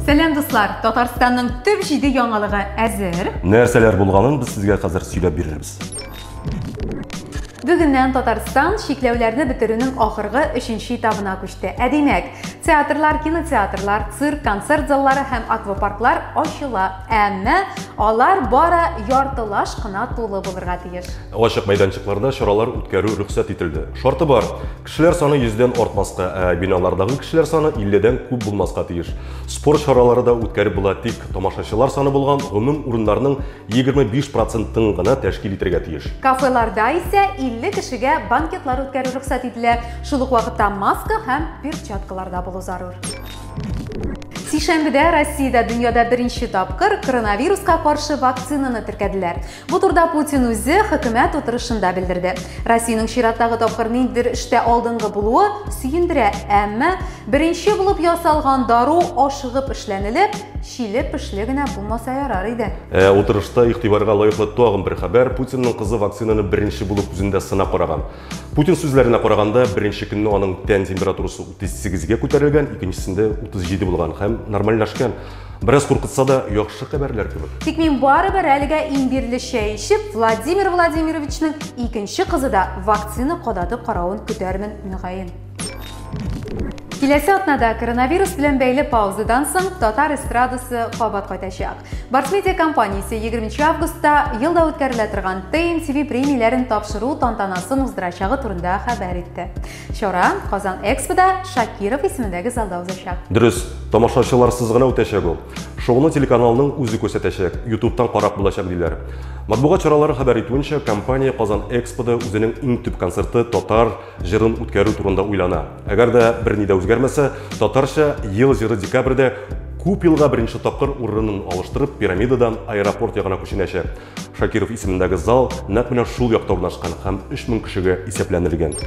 Сәлам дуслар, Татарстанның төп җиде яңалыгы әзер. Нәрсәләр булганын без сезгә хәзер сөйләп бирербез. Бүгеннән Татарстан чикләүләрне бетерүнең ахыргы өченче этабына күчте. Ә димәк, театрлар, кинотеатрлар, цирк, концерт заллары һәм аквапарклар ачыла. Әмма алар бары яртылаш кына тулы булырга тиеш. Ачык мәйданчыкларда чаралар үткәрү рөхсәт ителде. Шарты бар, Кешеләр саны 100-дән артмаска, ә биналардагы кешеләр саны 50-дән күп булмаска тиеш. Спорт чаралары да үткәреп була, тик тамашачылар саны булган гомум урыннарның 25 процентын гына тәшкил итәргә тиеш. Кафеларда исә 50 кешегә банкетлар үткәрү рөхсәт ителә, шул ук вакытта маска һәм перчаткаларда булу зарур. Сишәмбедә Россиядә дөньяда беренче тапкыр коронавируска каршы вакцинаны теркәделәр. Бу турда Путин үзе хөкүмәт утырышында белдерде. Россиянең чираттагы тапкыр ниндидер эштә алдынгы булуы сөендерә, әмма беренче булып ясалган дару ашыгып эшләнелеп, чиле пешле генә булмаса ярар иде. Ә утырышта игътибарга лаеклы тагын бер хәбәр, Путинның кызы вакцинаны беренче булып үзендә сынап караган. Путин сүзләренә караганда, беренче көнне аның тән температурасы 38 га күтәрелгән, икенчесендә 37 булган һәм нормальләшкән. Бераз куркытса да, яхшы хәбәрләр кебек. Тик мин барыбер әлегә имбирле чәй эчеп, Владимир Владимировичның икенче кызы да вакцина кадаты каравын көтәрмен, мөгаен. Киләсе атнада коронавирус белән бәйле паузадан соң татар эстрадасы кабат кайтачак. Барсмедиа компаниясе 20 августта елда үткәрелә торган ТНТВ премияләрен тапшыру тантанасын уздырачагы турында хәбәр итте. Чара Казан Экспода Шакиров исемендәге залда узачак. Дөрес, тамашачыларсыз гына үтәчәк ул. Шоуны телеканалның үзе күрсәтәчәк, YouTube-тан карап булачак диләр. Матбугат чаралары хәбәр итүенчә, компания Казан Экспода үзенең иң төп концерты татар җырын үткәрү турында уйлана. Әгәр дә берни дә үзгәрмәсә, татарча ел җыры декабрьдә күп елга беренче тапкыр урынын алыштырып, пирамидадан аэропорт ягына күченәчәк. Шакиров исемендәге зал нәкъ менә шул якта урнашкан һәм 3000 кешегә исәпләнелгән.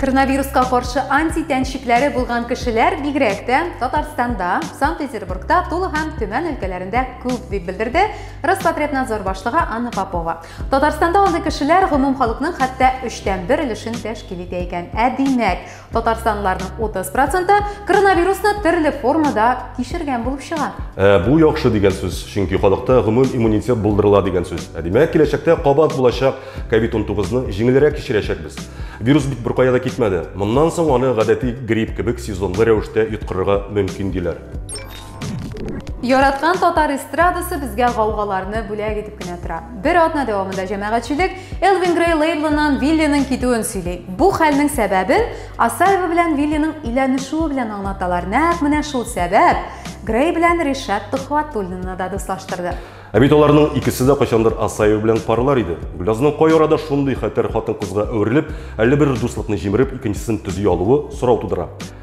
Коронавируска каршы антитән шикләре булган кешеләр бигрәк тә Татарстанда, Санкт-Петербургта, Тула һәм Төмән өлкәләрендә күп, дип белдерде Роспотребнадзор башлыгы Анна Попова. Татарстанда андый кешеләр гомум халыкның хәтта өчтән бер өлешен тәшкил итә икән. Ә димәк, Татарстанлыларның 30 проценты коронавирусны төрле формада кичергән булып чыга. Ә, бу яхшы дигән сүз, чөнки халыкта гомум иммунитет булдырыла дигән сүз. Ә димәк, киләчәктә кабат булачак COVID-19-ны җиңелрәк кичерәчәкбез. Вирус бит беркая да китмәде. Моннан соң аны гадәти грипп кебек сезонлы рәвештә йоткырырга мөмкин диләр. Яраткан татар эстрадасы безгә гаугаларны бүләк итеп кенә тора. Бер атна дәвамында җәмәгатьчелек Элвин Грей лейблыннан Виллиның китүен сөйли. Бу хәлнең сәбәбен Асаева белән Виллиның өйләнешүе белән аңлаталар. Нәкъ менә шул сәбәп Грей белән Ришат Төхватуллинны да дуслаштырды. Ә бит аларның икесе дә кайчандыр Асаева белән парлар иде. Гөлязның кай арада шундый хәтәр хатын-кызга әверелеп, әллә бер дуслыкны җимереп, икенчесен төзи алуы сорау тудыра.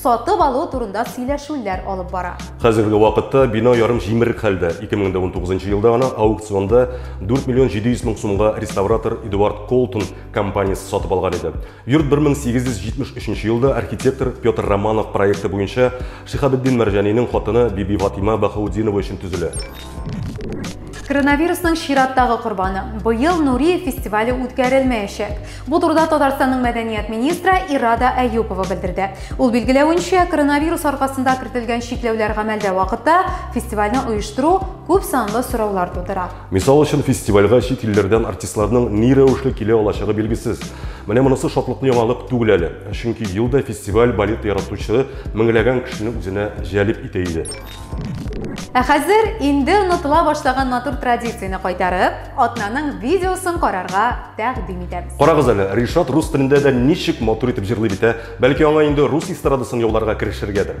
сатып алу турында сөйләшүләр алып бара. Хәзерге вакытта бина ярым җимерек хәлдә. 2019 елда гына аукционда 4 миллион 700 мең сумга реставратор Эдуард Колтон компаниясе сатып алган иде. Йорт 1873 елда архитектор Петр Романов проекты буенча Шихабетдин Мәрҗанинең хатыны Биби Фатима Бахаудинова өчен төзелә. Коронавирусның чираттагы корбаны. Быел Нуриев фестивале үткәрелмәячәк. Бу турыда Татарстанның мәдәният министры Ирада Әюпова белдерде. Ул билгеләвенчә, коронавирус аркасында кертелгән чикләүләр гамәлдә вакытта фестивальне оештыру күп санлы сораулар тудыра. Мисал өчен, фестивальгә чит илләрдән артистларның ни рәвешле килә алачагы билгесез. Менә монысы шатлыклы яңалык түгел әле. Чөнки елда фестиваль балет яратучы меңләгән кешене үзенә җәлеп итә иде. Ә хәзер инде онытыла башлаган матур традицияне кайтарып, атнаның видеосын карарга тәкъдим итәбез. Карагыз әле, Ришат рус телендә дә ничек матур итеп җырлый бит, ә? Бәлки аңа инде рус эстрадасын яуларга керешергәдер.